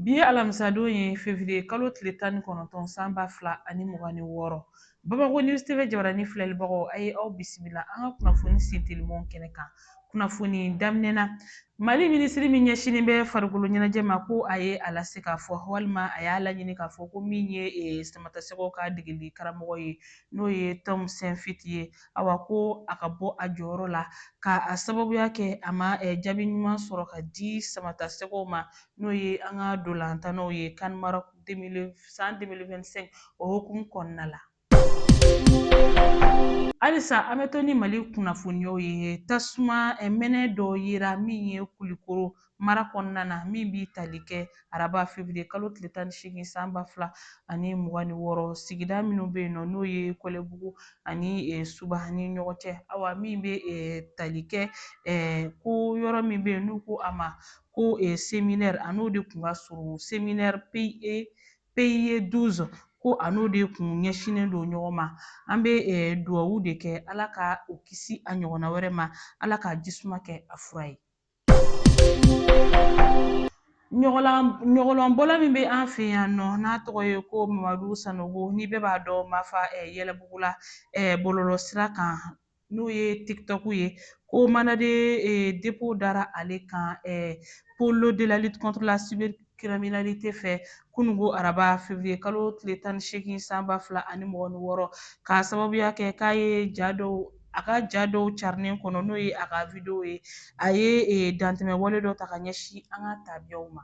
Bi ye alamisadon ye fevriye kalo tile tan ni kɔnɔntɔn san ba fila ani mugan ni wɔɔrɔ. Bamako News TV jabaranin filɛlibagaw, a ye aw bisimila an ka kunnafoni sen telimanw kɛnɛ kan. Kunnafoni daminɛ na, Mali minisiri min ɲɛsinnen bɛ farikolo ɲɛnajɛ ma ko a ye a lase k'a fɔ walima a y'a laɲini k'a fɔ ko min ye Samatasɛgɛw ka degeli karamɔgɔ ye n'o ye Tom Saintfiet ye, awa ko a ka bɔ a jɔyɔrɔ la k'a sababuya kɛ a ma jaabi ɲuman sɔrɔ ka di samatasɛgɛw ma n'o ye an ka dolantannaw ye CAN Maroc san 2025 o hukumu kɔnɔna la halisa an bɛ to ni mali kunnafoniyaw ye tasuma mɛnɛ dɔ yera min ye kulikoro mara kɔnɔna na min b'i tali kɛ araba fevriye kalo tile tan ni seegin san ba fila ani mugan ni wɔɔrɔ sigida minnu bɛ yen nɔ n'o ye kɔlɛbugu ani e, suba ni ɲɔgɔn cɛ awa min bɛ e, tali kɛ e, ko yɔrɔ min bɛ yen n'u ko a ma ko e, seminɛri a n'o de tun ka surun seminɛri Pie 12 ko a n'o de kun ɲɛsinnen don ɲɔgɔn ma an bɛ e, duwawu de kɛ ala ka o kisi a ɲɔgɔnna wɛrɛ ma ala ka jisuma kɛ a fura ye Ɲɔgɔlɔnbɔla min bɛ an fɛ yan nɔ n'a tɔgɔ ye ko Mamadu Sanogo ni bɛɛ b'a dɔn Mafa Yɛlɛbugu la bɔlɔlɔsira kan n'o ye TikTok ye ko mandat de dépôt dara ale kan pôle de la lutte contre la cyber criminalité fɛ kununko araba fevriye kalo tile tan ni seegin san ba fila ani mugan ni wɔɔrɔ k'a sababuya kɛ k'a ye ja dɔw a ka ja dɔw carinen kɔnɔ n'o ye a ka videwo ye a ye e, dantɛmɛ wale dɔ ta ka ɲɛsin an ka tabiyaw ma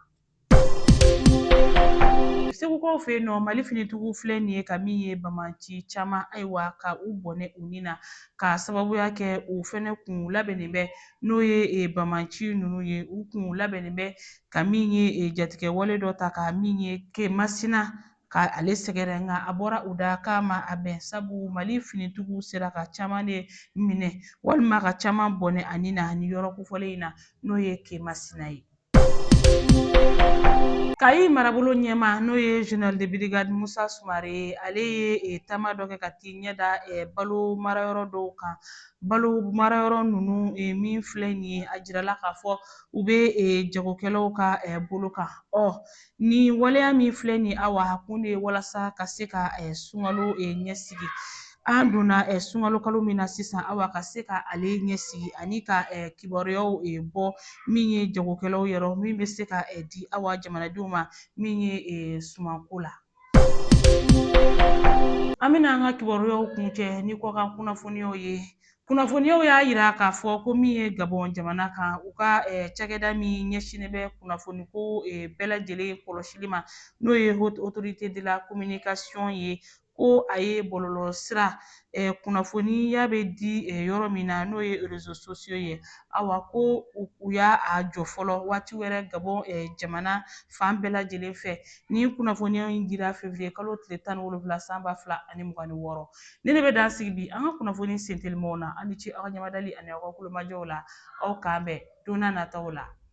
segukaw fɛ yen nɔ mali finitigiw filɛ nin ye ka min ye banbaanci caman ayiwa ka u bɔnɛ u ni na k'a sababuya kɛ u fɛnɛ kun labɛnnen bɛ n'o ye e, banbaanci ninnu ye u kun labɛnnen bɛ ka min ye eh, jatigɛ wale dɔ ta ka min ye ke masina ka ale sɛgɛrɛ nka a bɔra u da k'a ma a bɛn sabu mali finitigiw sera ka caman de minɛ walima ka caman bɔnɛ a ni na ni yɔrɔ kofɔlen in na n'o ye ke masina ye kayi marabolo ɲɛmaa n'o ye général de brigade musa sumare ye ale ye e, taama dɔ kɛ ka t'i ɲɛ da e, balo marayɔrɔ dɔw kan balo marayɔrɔ ninnu e, min filɛ nin ye a jirala k'a fɔ u bɛ jagokɛlaw ka bolo kan ɔ nin waleya min filɛ nin awa a kun de ye walasa ka se ka sunkalo ɲɛsigi an donna sunkalo kalo min na sisan awa ka se ka ale ɲɛsigi ani ka kibaruyaw bɔ min ye jagokɛlaw yɔrɔ min bɛ se ka di awa jamanadenw ma min ye sumanko la An bɛna an ka kibaruyaw kuncɛ ni kɔkan kunnafoniyaw ye kunnafoniyaw y'a jira k'a fɔ ko min ye gabɔn jamana kan u ka eh, cakɛda min ɲɛsinnen bɛ kunnafoniko eh, bɛɛ lajɛlen kɔlɔsili ma n'o ye haute autorité de la communication ye ko a ye bɔlɔlɔ sira kunnafoniya bɛ di yɔrɔ min na n'o ye réseaux sociaux ye awa ko u y'a a jɔ fɔlɔ waati wɛrɛ gabɔn jamana fan bɛɛ lajɛlen fɛ nin kunnafoniya in dira février kalo tile tan ni wolonwula san ba fila ani mugan ni wɔɔrɔ nin de bɛ dan sigi bi an ka kunnafoni sentelimaw na aw ni ce aw ka ɲɛmadali ani aw ka tulomajɔw la aw k'an bɛn don n'a nataw la